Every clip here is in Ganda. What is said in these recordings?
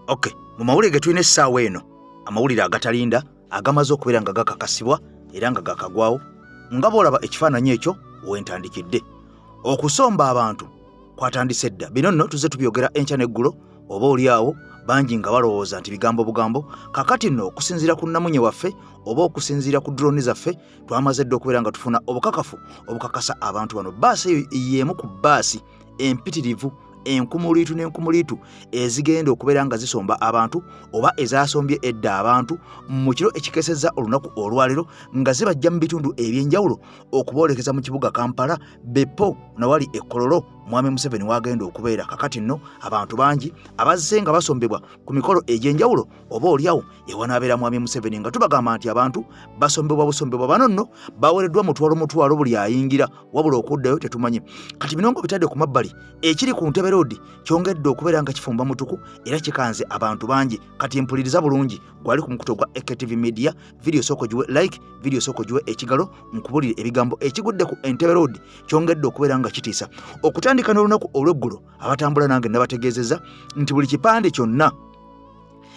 okay mu mawulire ge tulina essaawa eno amawulire agatalinda agamaze okubeera nga gakakasibwa era nga gakagwawo nga boolaba ekifaananyi ekyo wentandikidde okusomba abantu kwatandise dda bino nno tuze tubyogera enkya n'eggulo oba oli awo bangi nga balowooza nti bigambo bugambo kakati nno okusinziira ku nnamunye waffe oba okusinziira ku droni zaffe twamaze dda okubeera nga tufuna obukakafu obukakasa abantu bano baasi eyo yeemu ku baasi empitirivu enkumuliitu n'enkumuliitu ezigenda okubeera nga zisomba abantu oba ezasombye edda abantu mu kiro ekikesezza olunaku olwaliro nga zibajja mu bitundu eby'enjawulo okuboolekeza mu kibuga kampala bepo nawali ekololo mwami museveni wagenda okubeera kakati nno abantu bangi abazze nga basombebwa ku mikolo egy'enjawulo oba olyawo ewanaabera mwami museveni nga tubagamba nti abantu basombebwa busombebwa bano nno bawereddwa mutwalo mutwalo buli ayingira wabula okuddayo tetumanyi kati bino nga bitadde ku mabbali ekiri ku ntebe roodi kyongedde okubeera nga kifumba mutuku era kikanze abantu bangi kati mpuliriza bulungi gwali ku mukuto gwa ektv media vidiyo sooka ogiwe like vidiyo sooka ogiwe ekigalo nkubulire ebigambo ekigudde ku entebe roodi kyongedde okubeera nga kitiisa okutandika n'olunaku olw'eggulo abatambula nange nabategeezeza nti buli kipande kyonna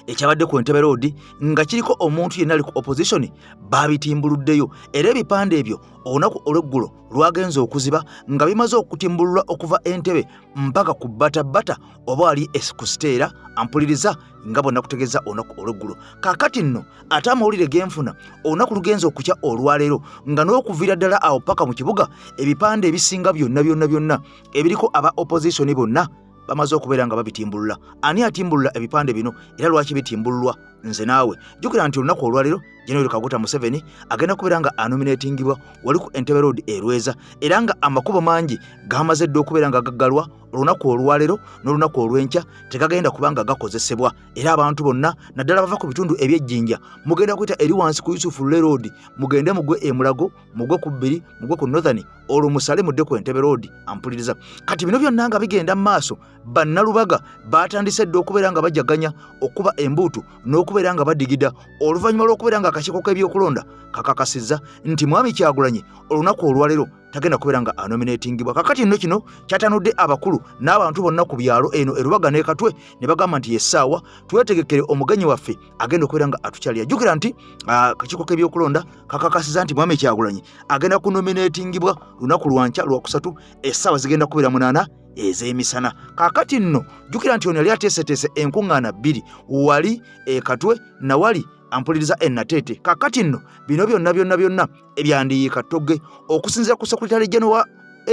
ekyabadde ku entebe roodi nga kiriko omuntu yenna ali ku opposition baabitimbuluddeyo era ebipande ebyo olunaku olweggulo lwagenze okuziba nga bimaze okutimbululwa okuva entebe mpaka ku batabata oba ali ku siteera ampuliriza nga bonna kutegeeza olunaku olweggulo kaakati nno ate amawulire genfuna olunaku lugenza okukya olwaleero nga n'okuviira ddala awo paka mu kibuga ebipande ebisinga byonna byonna byonna ebiriko aba opposition bonna bamaze okubeera nga babitimbulula ani atimbulula ebipande bino era lwaki bitimbululwa nze naawe jukira nti olunaku olwaliro general kaguta museveni agenda kubeera nga anominatingibwa wali ku entebe road erweza era nga amakubo mangi gamaze dda okubeera nga gaggalwa olunaku olwalero n'olunaku olw'enkya tegagenda kuba nga gakozesebwa era abantu bonna naddala bava ku bitundu eby'ejjinja mugenda kuyita eri wansi ku yusufu leroad mugende mugwe emulago mugwe ku bbiri mugwe ku northern olwo musale mudde ku entebe road ampuliriza kati bino byonna nga bigenda mu maaso bannalubaga baatandise dda okubeera nga bajaganya okuba embuutu n'okubeera nga badigida oluvannyuma lw'okubeera nga akakiiko k'ebyokulonda kakakasizza nti mwami kyagulanye olunaku olwaleero tagenda kubeera nga anominatingibwa kakati nno kino kyatanudde abakulu n'abantu bonna ku byalo eno erubaga n'ekatwe ne bagamba nti yessaawa twetegekere omugenyi waffe agenda okubeera nga atukyalira jjukira nti akakiiko k'ebyokulonda kakakasiza nti mwami kyagulanyi agenda kunominatingibwa lunaku lwankya lwakusatu essaawa zigenda kubeera munaana ez'emisana kakati nno jjukira nti ono yali ateeseteese enkuŋŋaana bbiri wali ekatwe nawali ampuliriza enateete kakati nno bino byonna byonna byonna ebyandiyiika togge okusinzira ku sekuritale jeno wa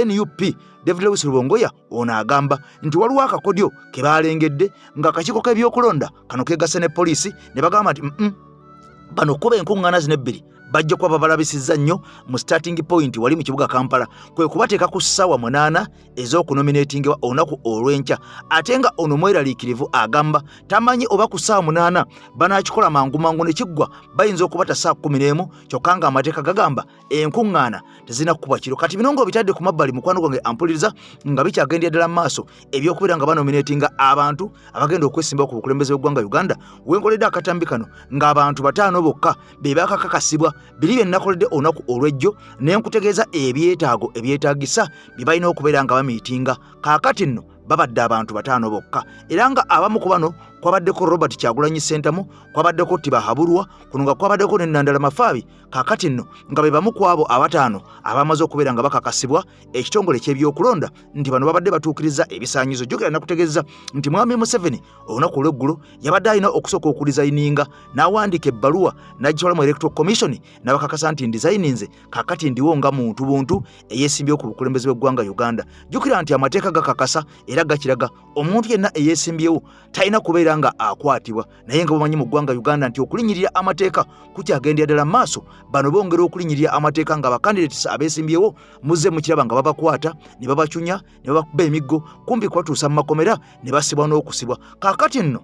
nup david lewis lubongoya ono agamba nti waliwo akakodyo ke baalengedde ng'akakiiko k'ebyokulonda kano keegasse ne poliisi ne bagamba nti bano okukuba enkuŋŋaana zino ebbiri bajja kuba babalabisizza nnyo mu starting point wali mu kibuga kampala kwe kubateeka ku ssaawa munaana ez'okunominatingiwa olunaku olw'enkya ate nga ono mweraliikirivu agamba tamanyi oba ku ssaawa munaana banaakikola mangu mangu ne kiggwa bayinza okubata ssaawa kumi n'emu kyokka ng'amateeka gagamba enkuŋŋaana tezirina kukuba kiro kati bino nga obitadde ku mabbali mukwano gwange ampuliriza nga bikyagendera ddala mu maaso ebyokubeera nga banominatinga abantu abagenda okwesimbawo ku bukulembeze bw'eggwanga uganda wenkoledde akatambi kano ng'abantu bataano bokka be bakakakasibwa biri bye nnakoledde olunaku olw'ejjo ne nkutegeeza ebyetaago ebyetaagisa bye balina okubeera nga bamiitinga kaakati nno babadde abantu bataano bokka era nga abamu ku bano kwabaddeko robert kyagulanyi sentamu kwabaddeko tibahabulwa kuno nga kwabaddeko ne nandala mafaabi kakati nno nga be bamu ku abo abataano abamaze okubeera nga bakakasibwa ekitongole ky'ebyokulonda nti bano babadde batuukiriza ebisaanyizo jjukira nakutegeeza nti mwami museveni olunaku olw'eggulo yabadde alina okusooka okudizayininga n'awandiika ebbaluwa n'agitwala mu electoral commission n'abakakasa nti ndizayininze kakati ndiwo nga muntu buntu eyeesimbyewo ku bukulembeze bw'eggwanga uganda jjukira nti amateeka gakakasa era gakiraga omuntu yenna eyeesimbyewo talina kubeera nga akwatibwa naye nga bamanyi mu ggwanga uganda nti okulinyirira amateeka kukyagendera ddala maaso bano bongera okulinyirira amateeka nga bakandidates abeesimbyewo muzze mukiraba nga babakwata ne babacunya ne babakuba emiggo kumpi kubatuusa mu makomera ne basibwa n'okusibwa kaakati nno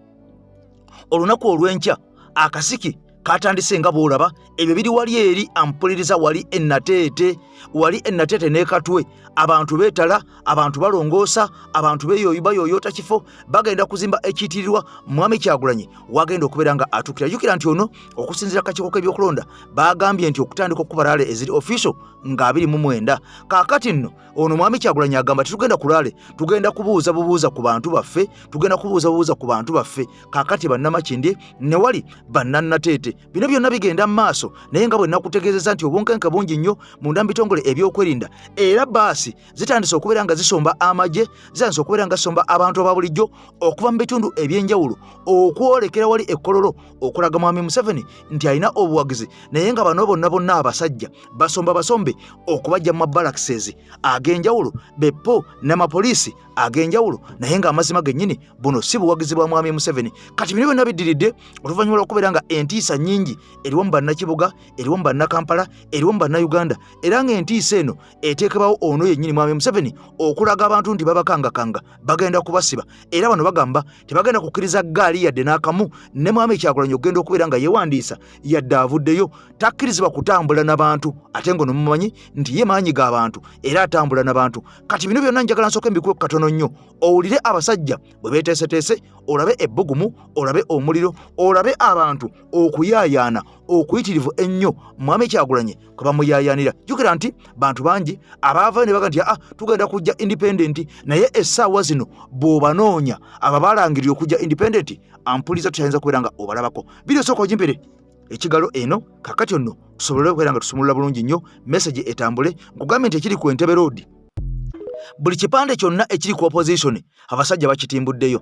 olunaku olw'enkya akasiki katandise nga bw'olaba ebyo biri wali eri ampuliriza wali enateete wali enateete nekatwe abantu betala abantu balongoosa abantu beyoyo bayoyota kifo bagenda kuzimba ekitirirwa mwami kyagulanyi wagenda okubeera nga atukira jukira nti ono okusinzira kakiiko kebyokulonda bagambye nti okutandika okukuba laale eziri official nga abiri mu mwenda kakati nno ono mwami kyagulanyi agamba titugenda ku laale tugenda kubuuza bubuuza ku bantu baffe tugenda kubuuza bubuuza ku bantu baffe kakati bannamakindye newali bannanateete bino byonna bigenda mu maaso naye nga bwe nakutegeezezza nti obunkenke bungi nnyo munda mu bitongole ebyokwerinda era baasi zitandise okubeera nga zisomba amagye zitandise okubeera nga zisomba abantu aba bulijjo okuva mu bitundu eby'enjawulo okwolekera wali ekkololo okulaga mwami museveni nti alina obuwagizi naye nga bano bonna bonna abasajja basomba basombe okubajja mu mabalaxes ag'enjawulo bepo n'amapoliisi ag'enjawulo naye ng'amazima gennyini buno si buwagizi bwa mwami museveni kati bino byonna biddiridde oluvannyuma lw'okubeera nga entiisa nnyingi eriwo mu bannakibuga eriwo mu bannakampala eriwo mu bannauganda era ng'entiisa eno eteekebawo ono yennyini mwami museveni okulaga abantu nti babakangakanga bagenda kubasiba era bano bagamba tebagenda kukkiriza ggaali yadde n'akamu ne mwami kyakulanya okugenda okubeera nga yewandiisa yadde avuddeyo takkirizibwa kutambula na bantu ate ng'ono mumanyi nti ye maanyi ga bantu era atambula na bantu kati bino byonna njagala nsooka embikuwe katono nnyo owulire abasajja bwe beeteeseteese olabe ebbugumu olabe omuliro olabe abantu okuyaayaana okuyitirivu ennyo mwami kyagulanye kwe bamuyaayaanira jjukira nti bantu bangi abaavayo ne baga nti aa tugenda kujja indipendenti naye essaawa zino bw'obanoonya aba balangirira okujja indipendenti ampuliza tutayinza kubeera nga obalabako biri osooka ogimpere ekigalo eno kakati onno tusobole okubeera nga tusumulula bulungi nnyo message etambule nkugambye nti ekiri ku entebe roodi buli kipande kyonna ekiri ku opposition abasajja bakitimbuddeyo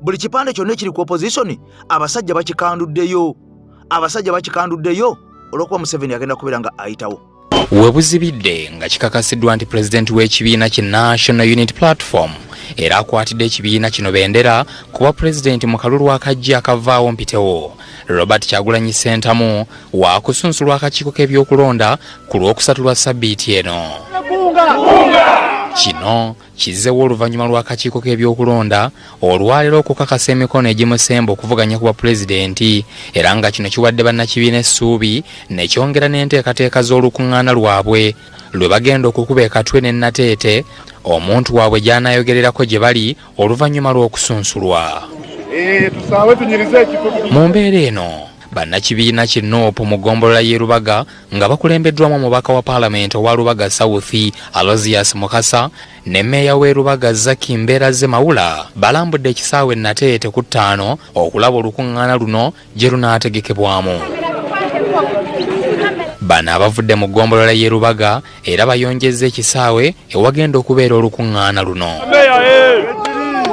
buli kipande kyonna ekiri ku opposition abasajja bakikanduddeyo abasajja bakikanduddeyo olwokuba museveni agenda kubeera nga ayitawo webuzibidde nga kikakasiddwa nti pulezidenti w'ekibiina ki national unit platform era akwatidde ekibiina kino bendera kuba pulezidenti mu kalulu akajja akavaawo mpitewo robert kyagulanyi sentamu waakusunsulwa akakiiko k'ebyokulonda ku lw'okusatu lwa sabbiiti eno kino kizzewo oluvannyuma lw'akakiiko k'ebyokulonda olwaleero okukakasa emikono egimusemba okuvuganya ku bwapulezidenti era nga kino kiwadde bannakibiina essuubi ne kyongera n'enteekateeka z'olukuŋŋaana lwabwe lwe bagenda okukuba ekatwe ne nateete omuntu waabwe gy'anaayogererako gye bali oluvannyuma lw'okusunsulwa eh, mu mbeera eno bannakibiina ki nup mu ggombolola y'e lubaga nga bakulembeddwamu omubaka wa paalamenti owa lubaga south alozias mukasa ne meeya w'e lubaga zaki mbeera ze mawula balambudde ekisaawe nateete ku ttaano okulaba olukuŋŋaana luno gye lunaategekebwamu bano abavudde mu ggombolola y'e lubaga era bayonjezza ekisaawe ewagenda okubeera olukuŋŋaana luno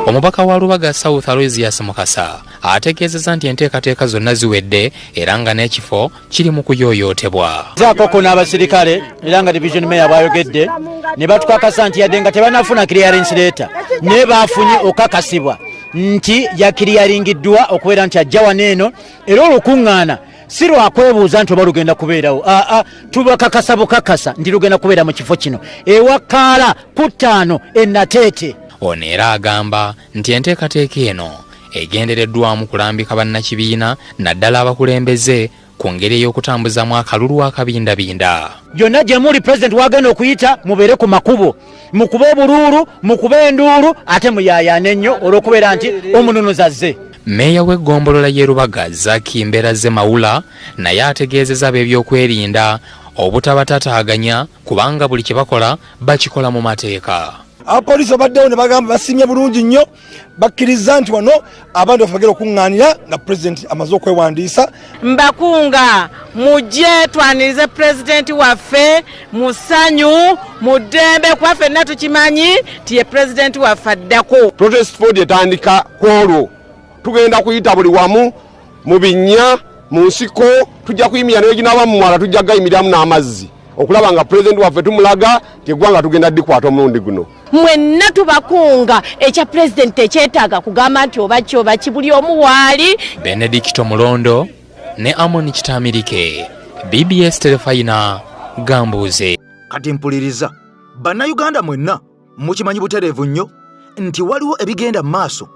omubaka wa lubaga south alozias mukasa ategeezeza nti enteekateeka zonna ziwedde era nga n'ekifo kiri mu kuyoyootebwa zaakoko n'abasirikale era nga division mayor bwayogedde ne batukakasa nti yadde nga tebanafuna clearance leeta naye baafunye okakasibwa nti yakiriyaringiddwa okubeera nti ajja wano eno era olukuŋŋaana si lwakwebuuza nti oba lugenda kubeerawo aa ah, ah, tubakakasa bukakasa nti lugenda kubeera mu kifo kino ewakaala ku ttaano enateete ono era agamba nti enteekateeka eno egendereddwamu kulambika bannakibiina naddala abakulembeze ku ngeri ey'okutambuzaamu akalulu akabindabinda yonna gye muli pulezidenti wagenda okuyita mubeere ku makubo mukuba obuluulu mukuba enduulu ate muyaayaana ennyo olw'okubeera nti omununuzi azze meeya w'eggombolola y'e rubaga zaki mbeera ze mawula naye ategeezeza ab'ebyokwerinda obutabatataaganya kubanga buli kye bakola bakikola mu mateeka abapoliisi obaddewo ne bagamba basimye bulungi nnyo bakkirizza nti wano abantu baffe bagera okuŋŋaanira nga pulezidenti amaze okwewandiisa mbakunga mujje twanirize pulezidenti waffe mu ssanyu mu ddembe kuba fenna tukimanyi nti ye pulezidenti waffe addako protest ford etandika ku olwo tugenda kuyita buli wamu mu binnya mu nsiko tujja kuyimira neginaba mu mwala tujja gayimiramu n'amazzi okulaba nga pulezidenti waffe tumulaga nti eggwanga tugenda dikwata omulundi guno mwenna tubakunga ekya pulezidenti ekyetaaga kugamba nti oba ki oba ki buli omu waali benedikito mulondo ne amoni kitamirike bbs terefayina gambuuze kati mpuliriza bannayuganda mwenna mukimanyi butereevu nnyo nti waliwo ebigenda mu maaso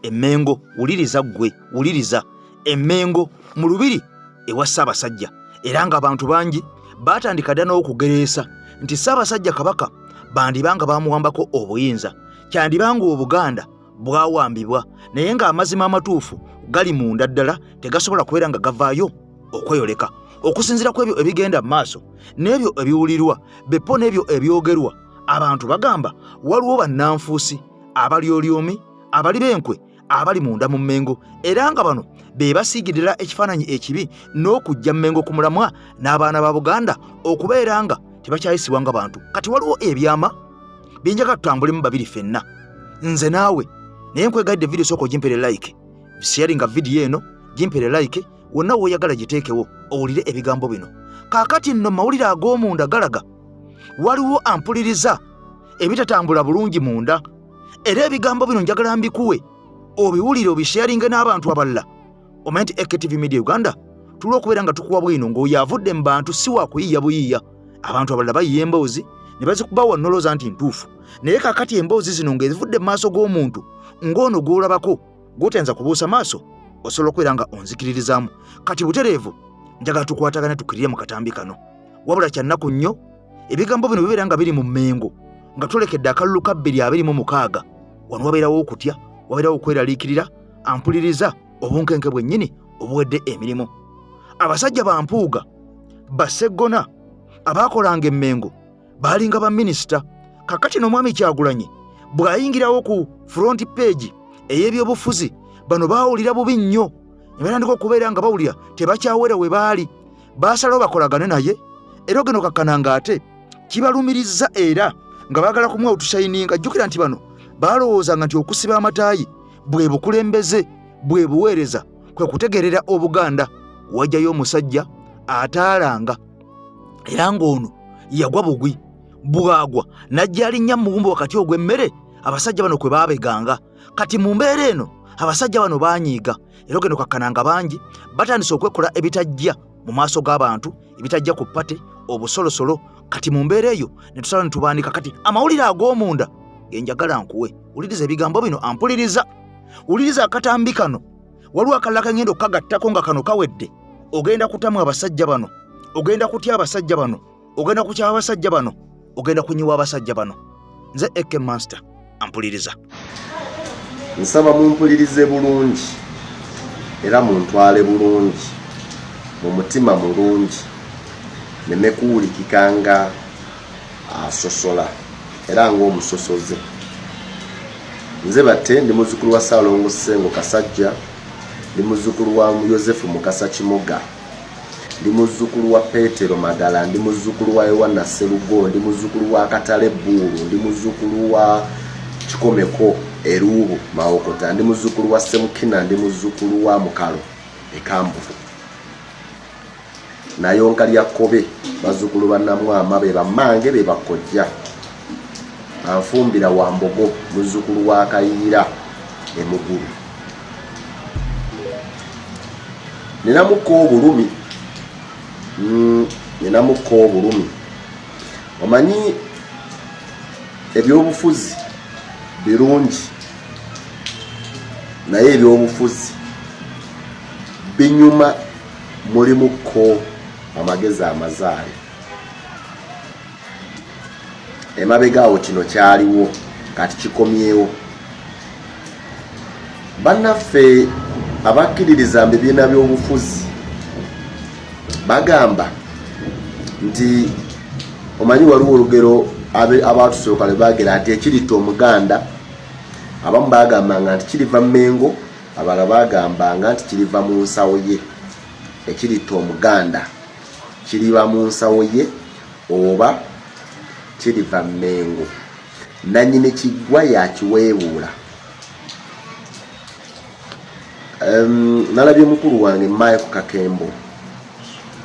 emmengo wuliriza ggwe wuliriza emmengo mu lubiri ewa ssaabasajja era ng'abantu bangi baatandika dda n'okugereesa nti ssaabasajja kabaka bandiba nga bamuwambako obuyinza kyandiba ng'obuganda bwawambibwa naye ng'amazima amatuufu gali munda ddala tegasobola kubeera nga gavaayo okweyoleka okusinziira ku ebyo ebigenda mu maaso n'ebyo ebiwulirwa bepo n'ebyo ebyogerwa abantu bagamba waliwo bannanfuusi abalyolyomi abali b'enkwe abali munda mu mmengo era nga bano be basiigirira ekifaananyi ekibi n'okujja mmengo ku mulamwa n'abaana ba buganda okubeera nga tebakyayisibwa nga bantu kati waliwo ebyama byenjaga tutambulemu babiri fenna nze naawe naye nkwegadde vidiyo sooka ogimpere like sharinga vidiyo eno gimpere like wonna w'oyagala giteekewo owulire ebigambo bino kaakati nno mawulire ag'omunda galaga waliwo ampuliriza ebitatambula bulungi munda era ebigambo bino njagala mbikuwe obiwulire obisheyaringe n'abantu abalala omanye nti ektv media uganda tuli okubeera nga tukuwa bwino ng'oyo avudde mu bantu si wakuyiiya buyiiya abantu abalala bayiya emboozi ne bazikuba wannoloza nti ntuufu naye kakati emboozi zino ng'ezivudde mu maaso g'omuntu ng'ono gw'olabako gw'otya nza kubuusa maaso osobola okubeera nga onzikiririzaamu kati butereevu njagala tukwatagane tukirire mu katambi kano wabula kyannaku nnyo ebigambo bino bibeera nga biri mu mmengo nga tulekedde akalulu ka bbiri abiri mu mukaaga wano wabeerawo okutya wabeerawo okweraliikirira ampuliriza obunkenke bwennyini obuwedde emirimu abasajja bampuuga baseggona abaakolanga emmengo baalinga baminisita kakati n'omwami kyagulanyi bw'ayingirawo ku front page ey'ebyobufuzi bano baawulira bubi nnyo nebatandika okubeera nga bawulira tebakyawera we baali baasalawo bakolagane naye era ogenda okakkana nga ate kibalumirizza era nga baagala kumuwa otushayininga jjukira nti bano baalowoozanga nti okusiba amataayi bwe bukulembeze bwe buweereza kwe kutegeerera obuganda wajjayo omusajja ataalanga era ng'ono yagwa bugwi bwagwa n'ajja alinnya mu muwumbo wakati ogw'emmere abasajja bano kwe baabeganga kati mu mbeera eno abasajja bano baanyiiga era ogenda okakkana nga bangi batandise okwekola ebitajja mu maaso g'abantu ebitajja ku pate obusolosolo kati mu mbeera eyo ne tusala ne tubandika kati amawulire ag'omunda genjagala nkuwe wuliriza ebigambo bino ampuliriza wuliriza akatambi kano waliwo akalala kangenda okukagattako nga kano kawedde ogenda kutamu abasajja bano ogenda kutya abasajja bano ogenda kukyaba abasajja bano ogenda kunyiwa abasajja bano nze ek master ampuliriza nsaba mumpulirize bulungi era muntwale bulungi mu mutima mulungi nemekuwulikika nga asosola era ng'omusosoze nze batte ndi muzukulu wa saalongo sengo kasajja ndi muzukulu wa yosefu mukasa kimoga ndi muzukulu wa petero magala ndi muzukulu wa yowana serugo ndi muzukulu wa katale buulu ndi muzukulu wa kikomeko eruubu mawokota ndi muzukulu wa semukina ndi muzukulu wa mukalo ekambufu nayonka lya kkobe bazzukulu ba namwama be bammange be bakkojja anfumbira wa mbogo muzzukulu wa kayiira emugulu ninamukka obulumi mm, ninamukka obulumi omanyi ebyobufuzi birungi naye ebyobufuzi binyuma mulimu ko amagezi amazaale emabega awo kino kyaliwo kati kikomyewo bannaffe abakkiririza mu bibiina by'obufuzi bagamba nti omanyi waliwo olugero abaatusooka lwe baagera nti ekiritta omuganda abamu baagambanga nti kiriva mu mengo abala bagambanga nti kiriva mu nsawo ye ekiritta omuganda kiriba mu nsawo ye oba kiriva mmengo nanyini kiggwa yakiweebuula um, nalabye mukulu wange maye ku kakembo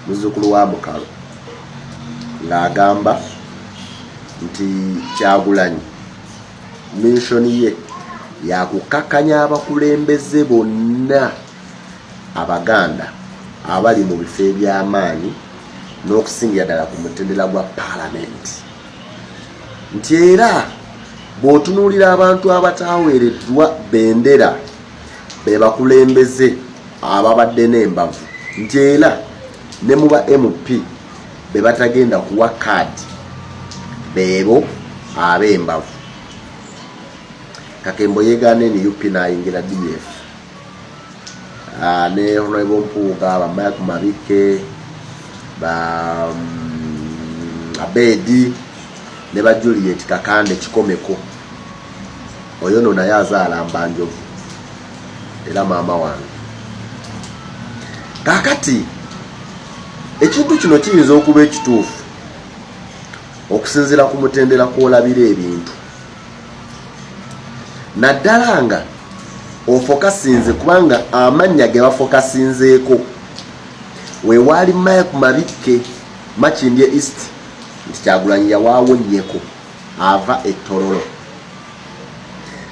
muzukulu wa mukalo ng'agamba nti kyagulanyi Minsoni ye yakukakkanya abakulembeze bonna Abaganda abali mu bifo eby'amaanyi n'okusingira ddala ku mutendera gwa paalamenti nti era bw'otunuulira abantu abataaweereddwa bendera be bakulembeze ababadde n'embavu nti era ne mu ba mp bebatagenda kuwa kaadi beebo ab'embavu kakembo yegaana nup nayingira df ah, ne honorable mpuuga bamaya ku mabikke ba mm, abedi ne ba juliet kakande kikomeko oyo no naye azaala mbanjovu era maama wange kakati ekintu kino kiyinza okuba ekituufu okusinzira ku mutendera kwolabira ebintu naddala nga ofokasinze kubanga amannya ge bafokasinzeeko wewaali mike mabikke makindye east nti kyagulanyi yawaawo nnyeko ava e Tororo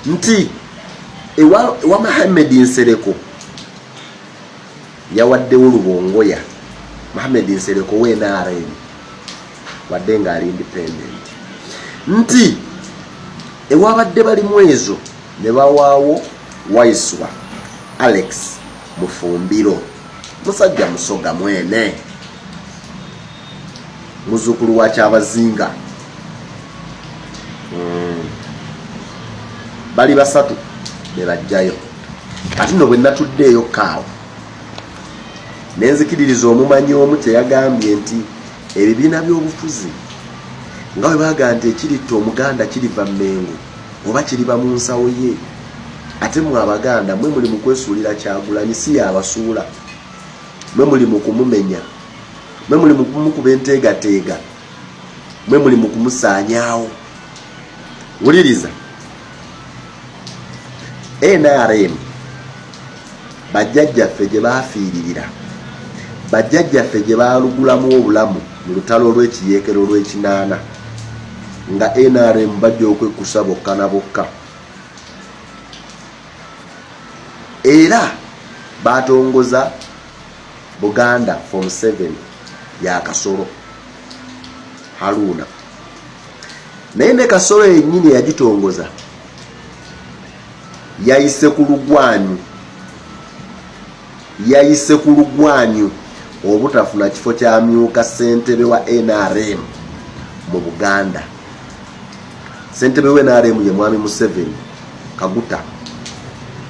nti ewa, ewa Mohamed Nsereko yawaddewo lubongoya Mohamed Nsereko we NRM wadde nga ali independent nti ewabadde bali mwezo ne bawaawo Waiswa Alex Mufumbiro musajja musoga mwene muzukulu wa kyabazinga mm. bali basatu bebajjayo ati no bwenatuddeeyo kaawo nenzikiririza omumanyi omu kyeyagambye nti ebibiina byobufuzi nga webaga nti ekiritta omuganda kiriva mengo oba kiriba mu nsawo ye ate mwe abaganda mwe muli mukwesuulira kyagulanyi si yabasuula mwe muli mukumumenya mwe muli mukumukuba enteegateega mwe muli mukumusaanyaawo wuliriza nrm bajjajjaffe gye baafiiririra bajjajjaffe gye baalugulamu obulamu mu lutalo olw'ekiyeekero olw'ekinaana nga nrm bajja okwekkusa bokka na bokka era baatongoza Buganda for Museveni ya kasolo Haruna naye ne kasolo yennyini eyagitongoza yayise ku lugwanyu yayise ku lugwanyu obutafuna kifo kyamyuka ssentebe wa nrm mu buganda Ssentebe we NRM ye Mwami Museveni Kaguta,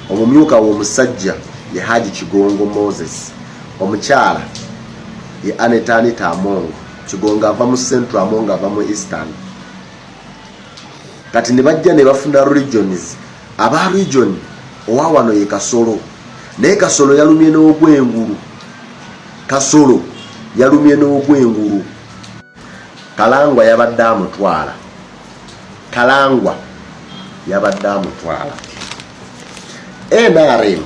omumyuka w'omusajja ye Haji Kigongo Moses, omukyala ye Aneta Anita Among Kigongo ava mu Central, Among ava mu Eastern. Kati ne bajja ne bafuna regions, aba region owa wano ye Kasolo, naye Kasolo yalumye n'ogwengulu. Kasolo yalumye n'ogwengulu. Kalangwa yabadde amutwala. Kalangwa yabadde amutwala. NRM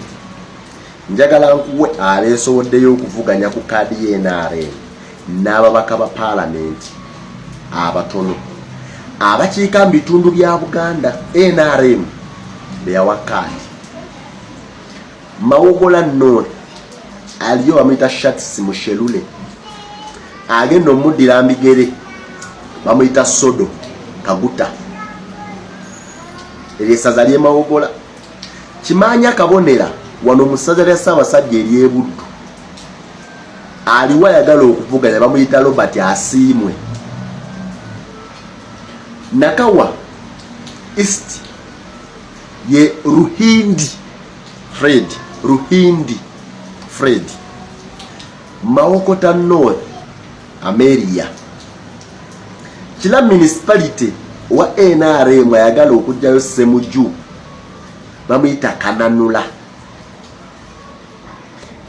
njagala nkuwe abeesowoddeyo okuvuganya ku kaadi ya NRM n'ababaka ba paalamenti abatono abakiika mu bitundu bya Buganda NRM beyawa kaadi mawogola noor aliyo bamuyita shats mushelule agenda omuddira mbigere bamuyita sodo kaguta eryo esaza lyemawogola kimanya kabonera wano musaza lya ssaabasajja eryebuddu aliwo ayagala okuvuganya bamuyita robert asiimwe nakawa east ye Ruhindi Fred Ruhindi Fred Mawokota North Ameria kila municipality wa NRM ayagala okujjayo Semuju bamuyita Kananula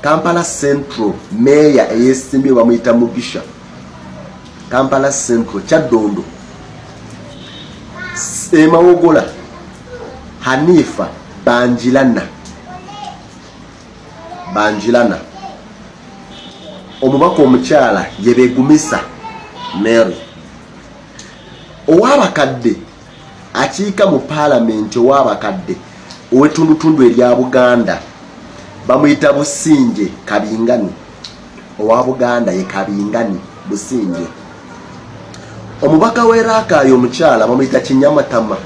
kampala central meeya eyesimbye bamuyita mugisha kampala central kyaddondo emawogola hanifa banjilana banjilana omubaka omukyala yebegumisa mary owabakadde akiika mu paalamenti ow'abakadde ow'ettundutundu erya buganda bamuyita businje kabingani owa buganda ye kabingani businje omubaka w'e raakaayo omukyala bamuyita kinyamatama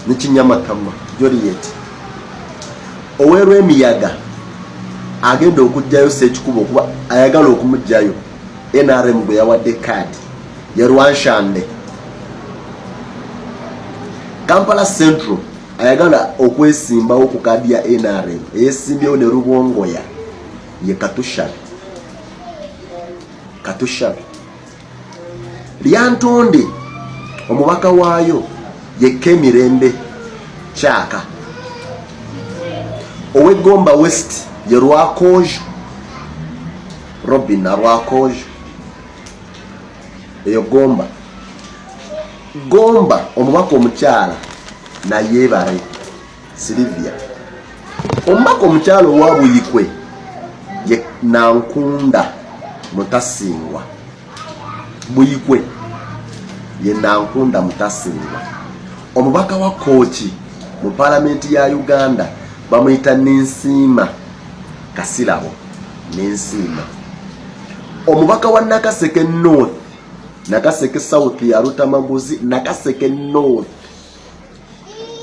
ne kinyamatama joliet ow'erwemiyaga agenda okugjayo sekikuba okuba ayagala okumugjayo nrm gwe yawadde kaadi ye lwanshande kampala central ayagala okwesimbawo ku kaadi ya nrm eyesimbyewo ne lubongoya ye katushabe katushabe lyantonde omubaka waayo ye kemirembe kyaka owegomba west ye lwakojo Robin Nalwakojo eyo Gomba Gomba omubaka omukyala nayebare Silivia omubaka omukyala owa Buyikwe ye Nankunda Mutasingwa Buyikwe ye Nankunda Mutasinga omubaka wa Kooki mu palamenti ya Uganda bamuyita Ninsiima Kasirabo Ninsiima omubaka wa Nakaseke North Nakaseke South ya Lutamaguzi Nakaseke North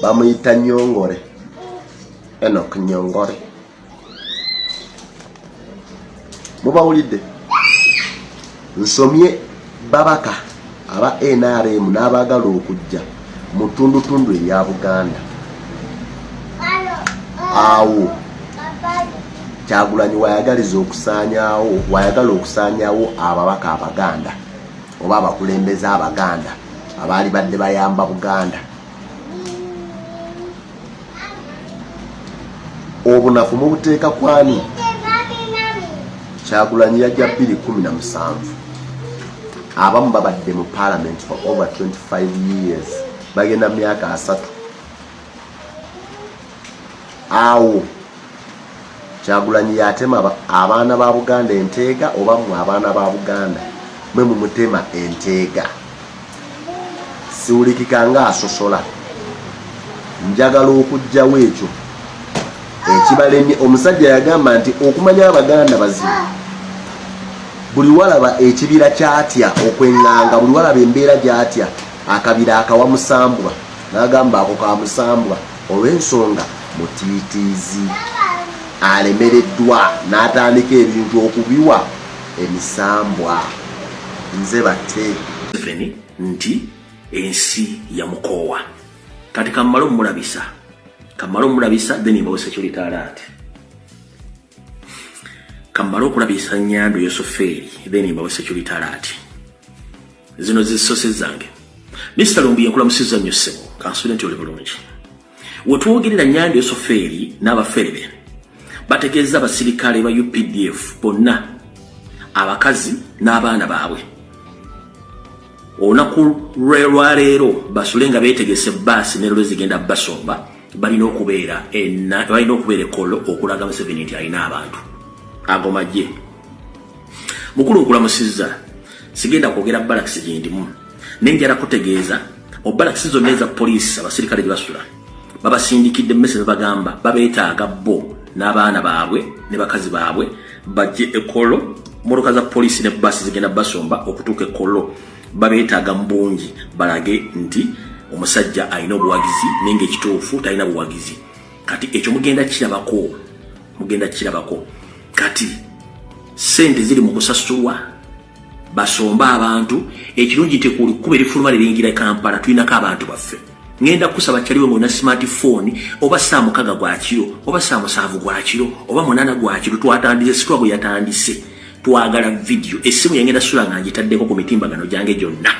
bamuyita Nyongore Enoch Nyongore mubawulidde nsomye babaka aba nrm n'abaagala okujja mu ttundutundu erya buganda awo kyagulanyi wayagaliza okusanyawo wayagala okusanyawo ababaka abaganda oba abakulembeze abaganda abaali badde bayamba buganda obunafu mubuteeka kwani kyagulanyi yajja 217 abamu babadde mu parliament for over 25 years bagenda myaka asatu awo kyagulanyi yatema abaana ba buganda enteega oba mwe abaana ba buganda mwe mumutema enteega siwulikika nga asosola njagala okugjawo ekyo ekibalemye omusajja yagamba nti okumanya abaganda bazibu buli walaba ekibira kyatya okwenganga buli walaba embeera gyatya akabira akawa musambwa nagamba ako ka musambwa Olw'ensonga Mutiitiizi alemereddwa n'atandika ebintu okubiwa emisambwa. Nze batte. Museveni nti ensi yamukoowa. Kati kammale omulabisa. Kammale omulabisa then mbawe security alert. kammale okulabisa nyando yosofeeri then mbawe security alert zino zisose zange mr lumbi yankula musiza nnyo ssebo kansubire nti oli bulungi wetwogerera nyando yosofeeri n'abafere be bategeeza abasirikale ba updf bonna abakazi n'abaana baabwe olunaku lwelwaleero basule nga betegese baasi nero lwezigenda basomba balina okubeera balina okubeera ekolo okulaga museveni nti alina abantu ago magye mukulu nkulamusizza sigenda kwogera balakisi gyendimu naye njala kutegeeza obalakisi zonna eza poliisi abasirikale gyebasula babasindikidde mmese bebagamba babeetaaga bo n'abaana baabwe ne bakazi baabwe bajje ekolo mmotoka za poliisi ne basi zigenda basomba okutuuka ekolo babeetaaga mu bungi balage nti omusajja alina obuwagizi naye ngaekituufu talina buwagizi kati ekyo mugenda kirabako mugenda kirabako kati sente ziri mu kusasulwa basomba abantu ekirungi nti ku lukkuba erifuluma liringira kampala tulinako abantu baffe ngenda kusaba kyaliwe ngona smartphone oba saa mukaga gwakiro oba saa musanvu gwakiro oba munana gwakiro twatandise sitwago yatandise twagala vidiyo essimu yangenda sula nga ngitaddeko ku mitimbagano gyange gyonna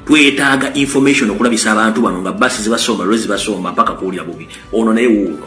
twetaaga information okulabisa abantu bano nga basi zibasomba lwe zibasomba mpaka kuwulira bubi ono naye wuuno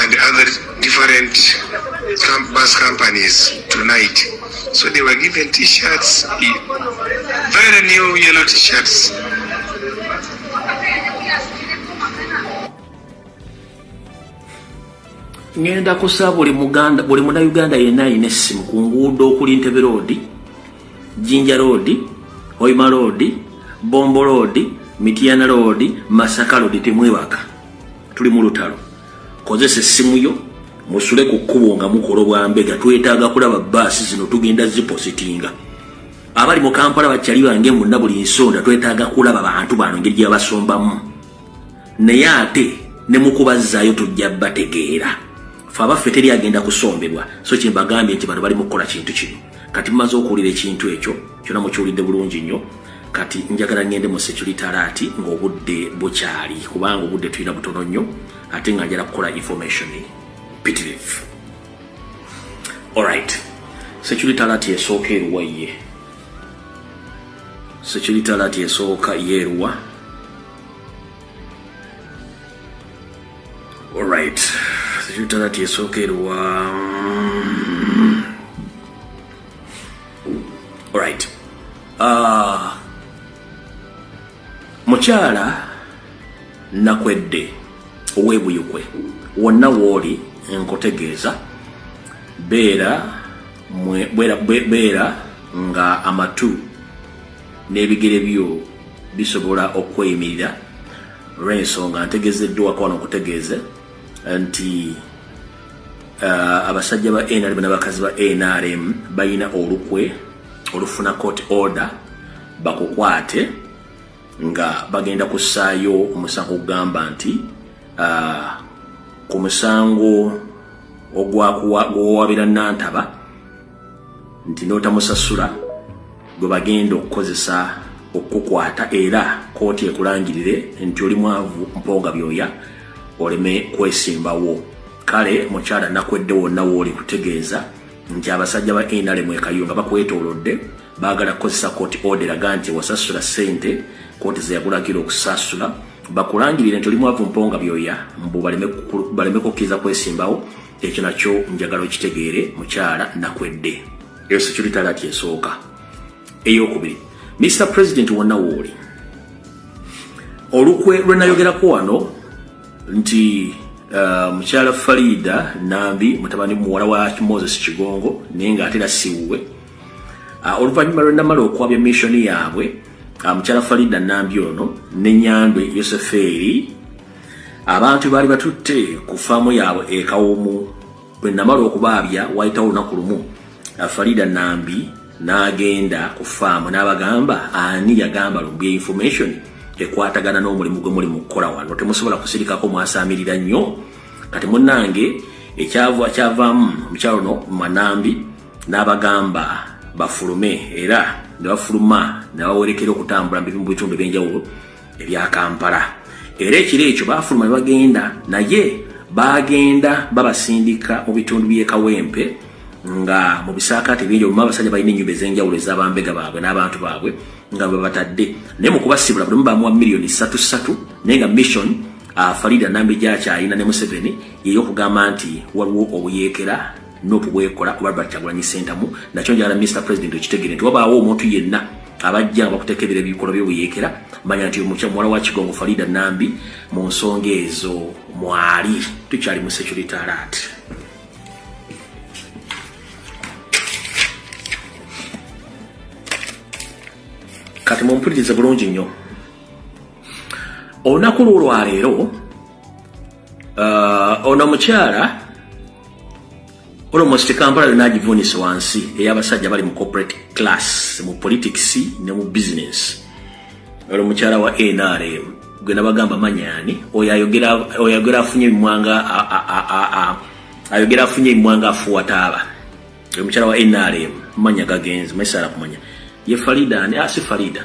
and other different camp bus companies tonight. So they were given t-shirts, very new yellow t-shirts. ngenda kusaba buli muganda buli munauganda yenna alina essimu ku nguudo okuli ntebe roodi Jinja Road, Hoima Road, Bombo Road, Mityana Road, Masaka Road temwebaka. Tuli mu lutalo. Kozesa essimu yo musule ku kkubo nga mukola obwambega twetaaga kulaba baasi zino tugenda zipositinga abali mu kampala bakyali bange munna buli nsonda twetaaga kulaba bantu bano ngeri gyebasombamu naye ate ne mukubazzaayo tujja bategeera fe abaffe teri agenda kusombebwa so kyembagambye nti bano bali mu kukola kintu kino kati mumaze okuwulira ekintu ekyo kyona mukiwulidde bulungi nnyo kati njagala ngende mu security alati ngaobudde bukyali kubanga obudde tulina butono nnyo ate nga njala kukola information pitirivu olright security alati esooka eruwa ye security alati esooka yeeruwa Alright. Sijutala tiesooka eruwa. Alright. Ah. Mukyala nakwedde owebuyukwe wonna wooli nkutegeeza beera beera nga amatu n'ebigere byo bisobola okweyimirira olw'ensonga ntegezeddwako wano nkutegeeze nti uh, abasajja ba nrm n'abakazi ba nrm balina olukwe olufuna court order bakukwate nga bagenda kussaayo omusango ogugamba nti uh, ku musango ogwawabira nantaba nti n'otamusasula gwe bagenda okukozesa okukukwata era kooti ekulangirire nti oli mwavu mponga byoya oleme kwesimbawo kale mukyala nakwedde wonna wooli kutegeeza nti abasajja ba nrm ekayo nga bakwetoolodde baagala kukozesa kooti oderaga nti wasasula ssente kooti zeyakulagira okusasula bakulangirire nti oli mwavu mponga byoya mbu baleme kukkiriza kwesimbawo ekyo nakyo njagala okitegeere mukyala nakwedde eyo security alert esooka eyokubiri mr president wonna wooli olukwe lwe nayogerako wano nti uh, mukyala farida nambi mutabani muwala wa moses kigongo naye nga atera siwuwe uh, oluvannyuma lwe namala okwabya missioni yaabwe uh, mukyala farida nambi ono ne nyandwe yosefeeri abantu baali batutte ku faamu yaabwe ekawumu bwe namala okubaabya wayitawo olunaku lumu farida nambi n'agenda ku faamu n'abagamba ani yagamba lumbi information ekwatagana n'omulimu gwe muli mu kukola wano temusobola kusirikako mwasaamirira nnyo kati munnange ekyava kyavaamu omukyalo ono manambi n'abagamba bafulume era ne bafuluma ne bawerekera okutambula mu bitundu eby'enjawulo ebya Kampala era ekiro ekyo baafuluma ne bagenda naye baagenda babasindika mu bitundu by'e Kawempe nga mu bisaakaate bingi omu abasajja balina ennyumba ez'enjawulo ez'abambega baabwe n'abantu baabwe nga babatadde naye mu kubasibula buli omu bamuwa miliyoni ssatu ssatu naye nga mission afarida ah, nambi gyakyalina ne museveni yeyokugamba nti waliwo obuyeekera nup bwekola kuba albert kyagulanyi sentamu nakyo njagala mr president okitegere nti wabaawo omuntu yenna abajja nga bakuteeka ebiro ebikolwa byobuyeekera manya nti omukya muwala wa kigongo falida nambi mu nsonga ezo mwali tukyali mu security alert kati mumpulirize bulungi nnyo olunaku lwo lwaleero Uh, ono mukyala almost kampala yona agivuunise wansi eyabasajja bali mu corporate class mu politics ne mu business olo mukyala wa nrm gwe nabagamba manyani oyo ayogera afunye emimwanga ayogera afunye emimwanga afuwataaba oyo mukyala wa nrm manya gagenzi maisala kumanya ye farida ani asi ah, farida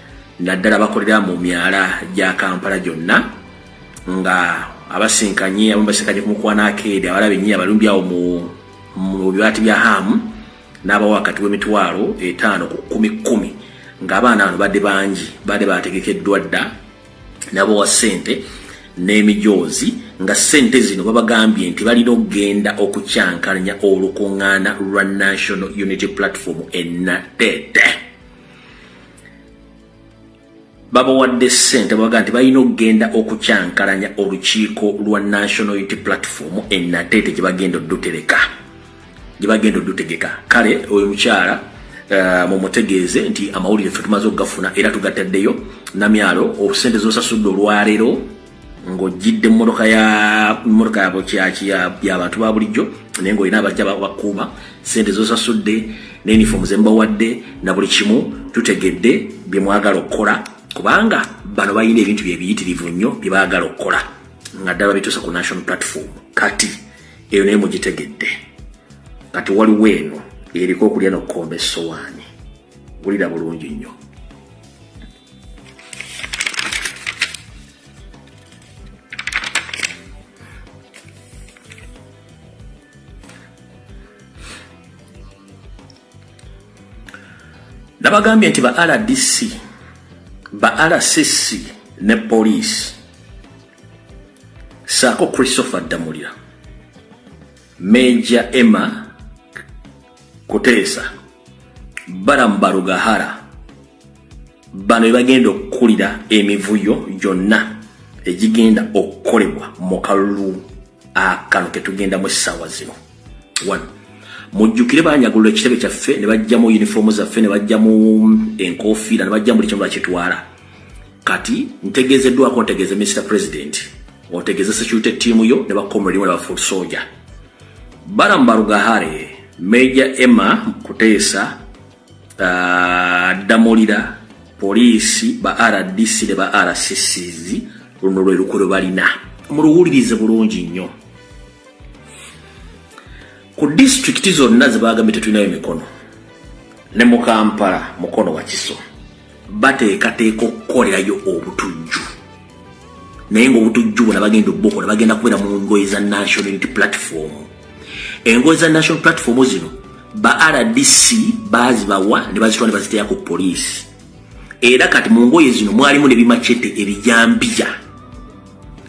naddala bakolera mu myala gya kampala gyonna nga abasinkanye abamu basinkanye ku mukwana akeedi abala benyiyi abalumbi awo mu bibaati bya haamu n'abawa wakati w'emitwalo etaano ku kumi kkumi ng'abaana bano badde bangi badde bategekeddwa dda nabawa ssente n'emijoozi nga ssente zino babagambye nti balina okugenda okukyankalanya olukuŋŋaana lwa national unity platform enatete babawadde ssente babaga nti balina okugenda okukyankalanya olukiiko lwa national unity platform enateete gyebagenda odutereka gyebagenda odutegeka kale oyo mukyala uh, mumutegeeze nti amawulire fe tumaze okugafuna era tugataddeyo namyalo obusente zosasudde olwaleero ng'ojjidde mmotoka ya mmotoka yabo kyaki yabantu ba bulijjo naye ng'olina abajja bakuuma sente zosasudde ne uniform zembawadde na buli kimu tutegedde bye mwagala okukola kubanga bano balina ebintu byebiyitirivu nnyo bye baagala okukola nga ddala bituusa ku national platform kati eyo naye mugitegedde kati waliwo eno eriko okulya nokukomba essowaani wulira bulungi nnyo nabagambye nti ba rdc ba rcc ne poliisi saako christopher ddamulira Major Emma Kuteesa Balamu Barugahara bano bebagenda okukulira emivuyo gyonna egigenda okukolebwa mu kalulu akano ketugendamu essaawa zino one mujjukire banyagulula ekitebe kyaffe ne bajjamu yunifoomu zaffe ne bajjamu enkofiira ne bajjamu buli kimu bakitwala kati ntegezeddwako ntegeze Mr President otegeze security team yo ne bakomredi wala foot soldier bara mbarugahare Major Emma Mkutesa uh, Damolira polisi ba RDC ne ba RCCs luno lwe lukolo balina muluwulirize bulungi nnyo ku district zonna zebagambye tetulinayo mikono ne mu Kampala mukono wakiso bateekateeka okukolerayo obutujju naye ngaobutujju bona bagenda obukola bagenda kubeera mu ngoye za national unity platform engoye za national platform zino ba rdc bazibawa ne bazitwa ne baziteya ku poliisi era kati mu ngoye zino mwalimu ne bimacete ebijambiya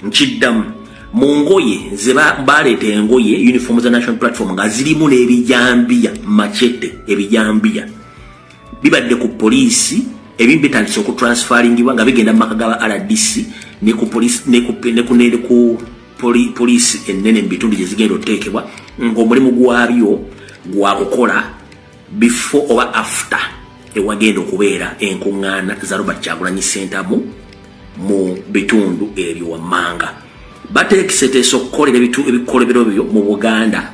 nkiddamu mu ngoye ze baleeta engoye uniform za national platform nga zirimu n'ebijambiya macete ebijambiya bibadde ku poliisi ebimu bitandise okutransfaringibwa nga bigenda mu maka gaba rdc ne ku poliisi ennene mu bitundu gye zigenda oteekebwa ng'omulimu gwabyo gwa kukola before oba after ewagenda okubeera enkuŋŋaana za robert kyagulanyi sentamu mu bitundu ebyo wammanga bateekiseteesa okukolera ebikolebero byo mu buganda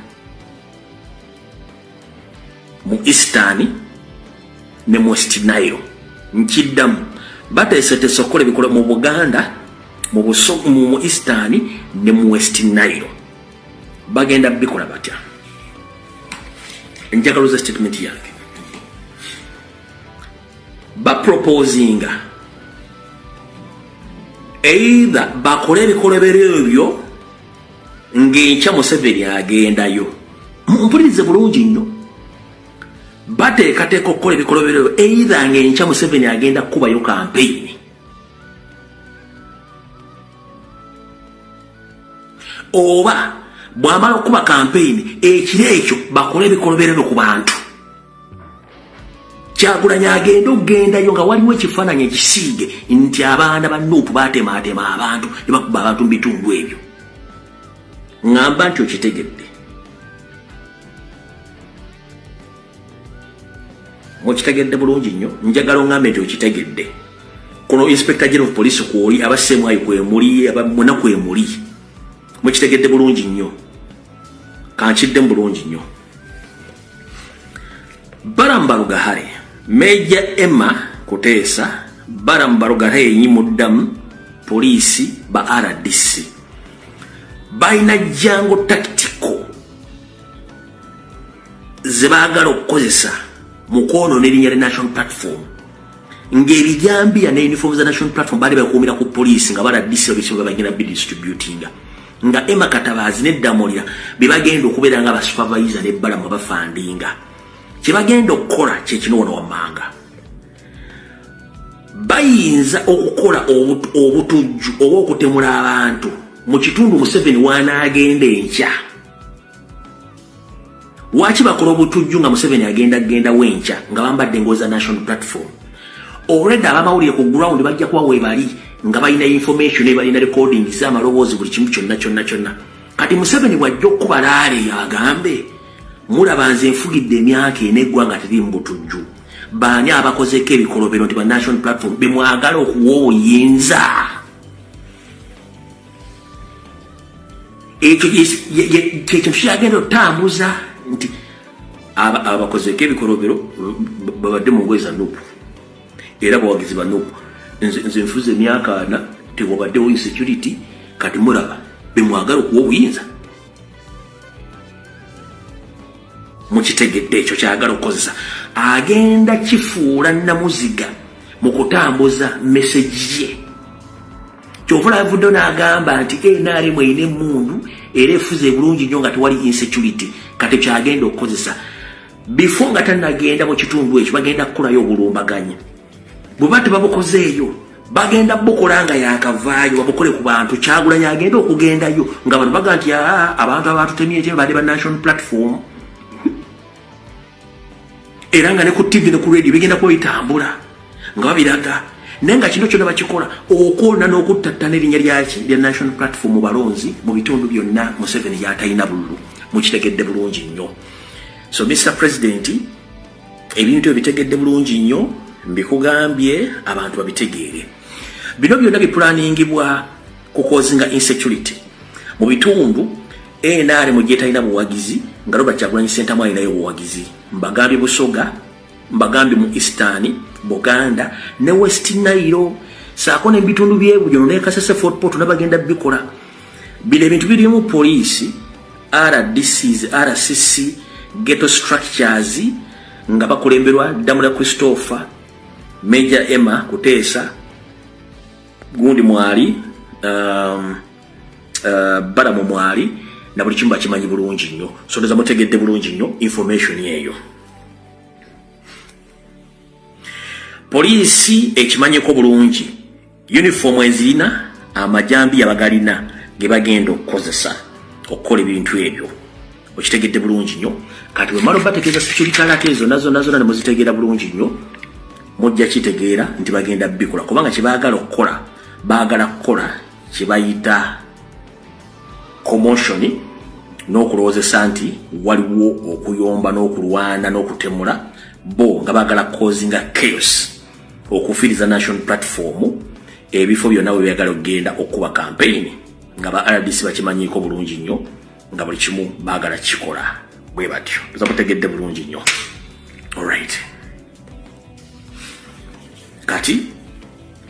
mu eastern ne mu west nile nkiddamu bateeseteese okukola ebikola mu buganda mu mu eastern ne mu west nile bagenda bikola batya njagaluza statement yange baproposinga either bakole ebikolobero ebyo ng'enkya museveni agendayo mpulirize bulungi nnyo bateekateeka okukola ebikoloberero eitha ng'enkya museveni agenda kukubayo kampeyini oba bwamala okukuba kampeyini ekiro ekyo bakole ebikoloberero ku bantu kyagulanyi agenda okugendayo nga waliwo ekifaananyi ekisiige nti abaana ba nup batemaatema abantu ne bakuba abantu mu bitundu ebyo ŋamba nti okitegedde mukitegedde bulungi nnyo njagala oŋambe nti okitegedde kuno inspector general of police kwoli aba semwayo kwemuli aba muna kwemuli mukitegedde bulungi nnyo kankiddemu bulungi nnyo Balaam Barugahare, Major Emma Kuteesa, Balaam Barugahare yenyi muddamu poliisi ba RDC balina jango taktiko ze baagala okukozesa mu kwonoona erinnya lya national platform ng'ebijambiya ne uniform za national platform baali bakuumira ku poliisi nga baradisi ebisibwa bagenda bidistributinga nga Emma Katabaazi ne Ddamulira be bagenda okubeera nga basupervisa ne Balamu bafandinga kye bagenda okukola kye kino wano wammanga bayinza okukola obutujju oba okutemula abantu mu kitundu Museveni wanaagenda enkya Lwaki bakola obutujju nga Museveni agenda genda wenkya nga bambadde ngozi za national platform? Already abamawulire ku ground bajja kuba webali nga balina information ebalina recording z'amaloboozi buli kimu kyonna kyonna kyonna. Kati Museveni bw'ajja okukuba laale agambe mulaba nze nfugidde emyaka ena eggwanga teri mu butujju. Baani abakozeeko ebikolobero nti ba national platform bemwagala okuwa obuyinza? ekyo kyekyo kyagenda otambuza nti abakozeko ebikolobero babadde mu ngoye za nupu era bawagizi ba nupu nze nfuza emyaka ana tewabaddewo insecurity kati mulaba bemwagala okuwa obuyinza mukitegedde ekyo kyagala okukozesa agenda kifuula namuziga mu kutambuza mesegi ye kyova lavuddo n'agamba nti nrm erina emmundu era efuza ebulungi nnyo nga tewali insecurity kati kyagenda okukozesa bifo nga tanagenda mu kitundu ekyo bagenda kukolayo obulumbaganyi bweba tebabukozeeyo bagenda bukola nga yakavaayo babukole ku bantu kyagulanyi agenda okugendayo nga bantu baga nti abantu abatutemyekyo bade ba national platform era nga ne ku ttivi ne ku rediyo bigenda kuba bitambula nga babiraga naye nga kino kyona bakikola okwona n'okuttattana erinnya lyaki lya national platform mu balonzi mu bitundu byonna museveni gyatalina bululu mukitegedde bulungi nnyo so mr president ebintu ebitegedde bulungi nnyo mbikugambye abantu babitegeere bino byonna biplaningibwa kukozinga insecurity mu bitundu NRM gyetalina buwagizi nga Robert Kyagulanyi Ssentamu alinayo buwagizi mbagambye Busoga mbagambye mu Eastern Buganda ne West Nile saako n'ebitundu by'ebujono ne Kasese Fort Portal nabagenda bikola bino ebintu birimu poliisi RDCs RCC ghetto structures nga bakulemberwa Damula Christopher Major Emma Kuteesa gundi mwali um, uh, bala mu mwali na buli kimu bakimanyi bulungi nnyo so ndoza mutegedde bulungi nnyo information eyo poliisi ekimanyiko bulungi yunifoomu ezirina amajambi yabagalina ge bagenda okukozesa okukola ebintu ebyo okitegedde bulungi nnyo kati wemala obategeeza seculitalaka ezo nazonazona ne muzitegeera bulungi nnyo mujja kitegeera nti bagenda bikola kubanga kye baagala okukola baagala kukola kyebayita commotion n'okulowoozesa nti waliwo okuyomba n'okulwana n'okutemula bo nga bagala kozinga chaos okufiiriza national platform ebifo byonna bwe byagala okugenda okukuba kampeyini nga ba rdc bakimanyiiko bulungi nnyo nga buli kimu bagala kikola bwe batyo oza kutegedde bulungi nnyo olright kati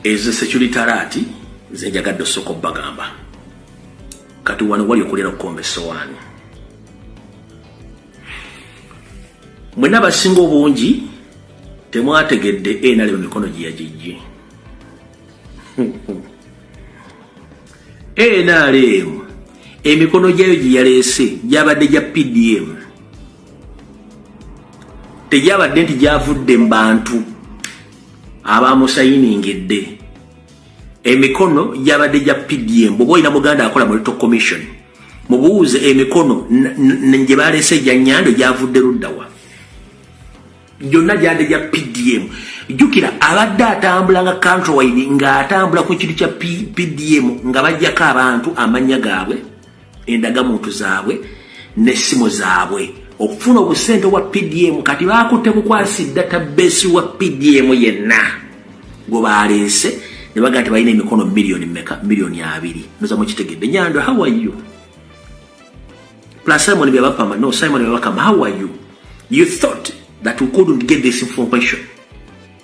ezo security alati nze njagadde osooka obbagamba kati wano wali okulera okukomba esowaani mwena abasinga obungi temwategedde enali mu mikono gye yagijje nrm emikono gyayo gye yaleese gyabadde gya pdm tegyabadde nti gyavudde mu bantu abamusayiningidde emikono gyabadde gya pdm bwoba olina muganda akola mu little commission mubuuze emikono gye baleese egya nyando gyavudde luddawa gyonna gyande gya pdm jjukira abadde atambula nga countrywide ng'atambula ku kintu kya pdm nga bajjako abantu amannya gaabwe endagamuntu zaabwe n'essimu zaabwe okufuna obusente obwa pdm kati baakutte bukwasi data besi wa pdm yenna gwe baaleese ne baga nti balina emikono miliyoni meka miliyoni abiri noza mukitegedde nyando hawayo plus simon byabapama no simon byabakama hawayo you thought that we couldn't get this information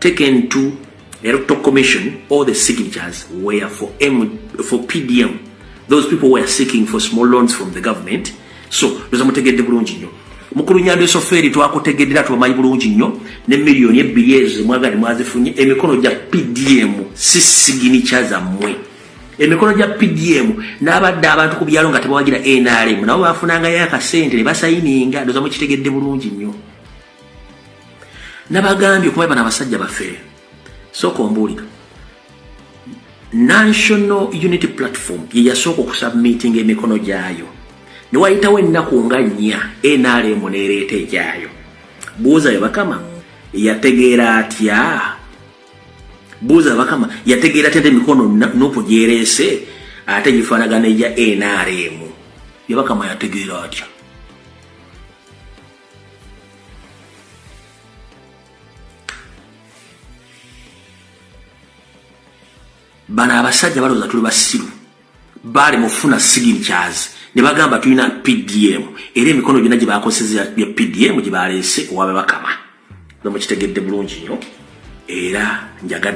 taken to electoral commission all the signatures were for M for PDM those people were seeking for small loans from the government so ndoza mutegedde bulungi nnyo mukulu nyando esofeeri twakutegedde era tubamanyi bulungi nnyo ne miliyoni ebbiri ezo mwagale mwazifunye emikono gya PDM si siginicha zammwe emikono gya PDM n'abadde abantu ku byalo nga tebawagira NRM nabo baafunangayo akasente ne basayininga ndoza mukitegedde bulungi nnyo nabagambye kuba bana abasajja bafere sooka ombuulira national unity platform yeyasooka okusubmitinga emikono gyayo newayitawo ennaku nga nnya nrm neereeta egyayo buuza yebakama yategeera atya buuza bakama yategeera atya emikono nupu gyereese ate gifaanagana egya nrm yebakama yategeera atya bano abasajja balowooza tuli basiru baali mufuna signatures ne bagamba tulina pdm era emikono gyonna gye bakozesa ya pdm gye baleese owabe bakama nomukitegedde bulungi nnyo era njagadde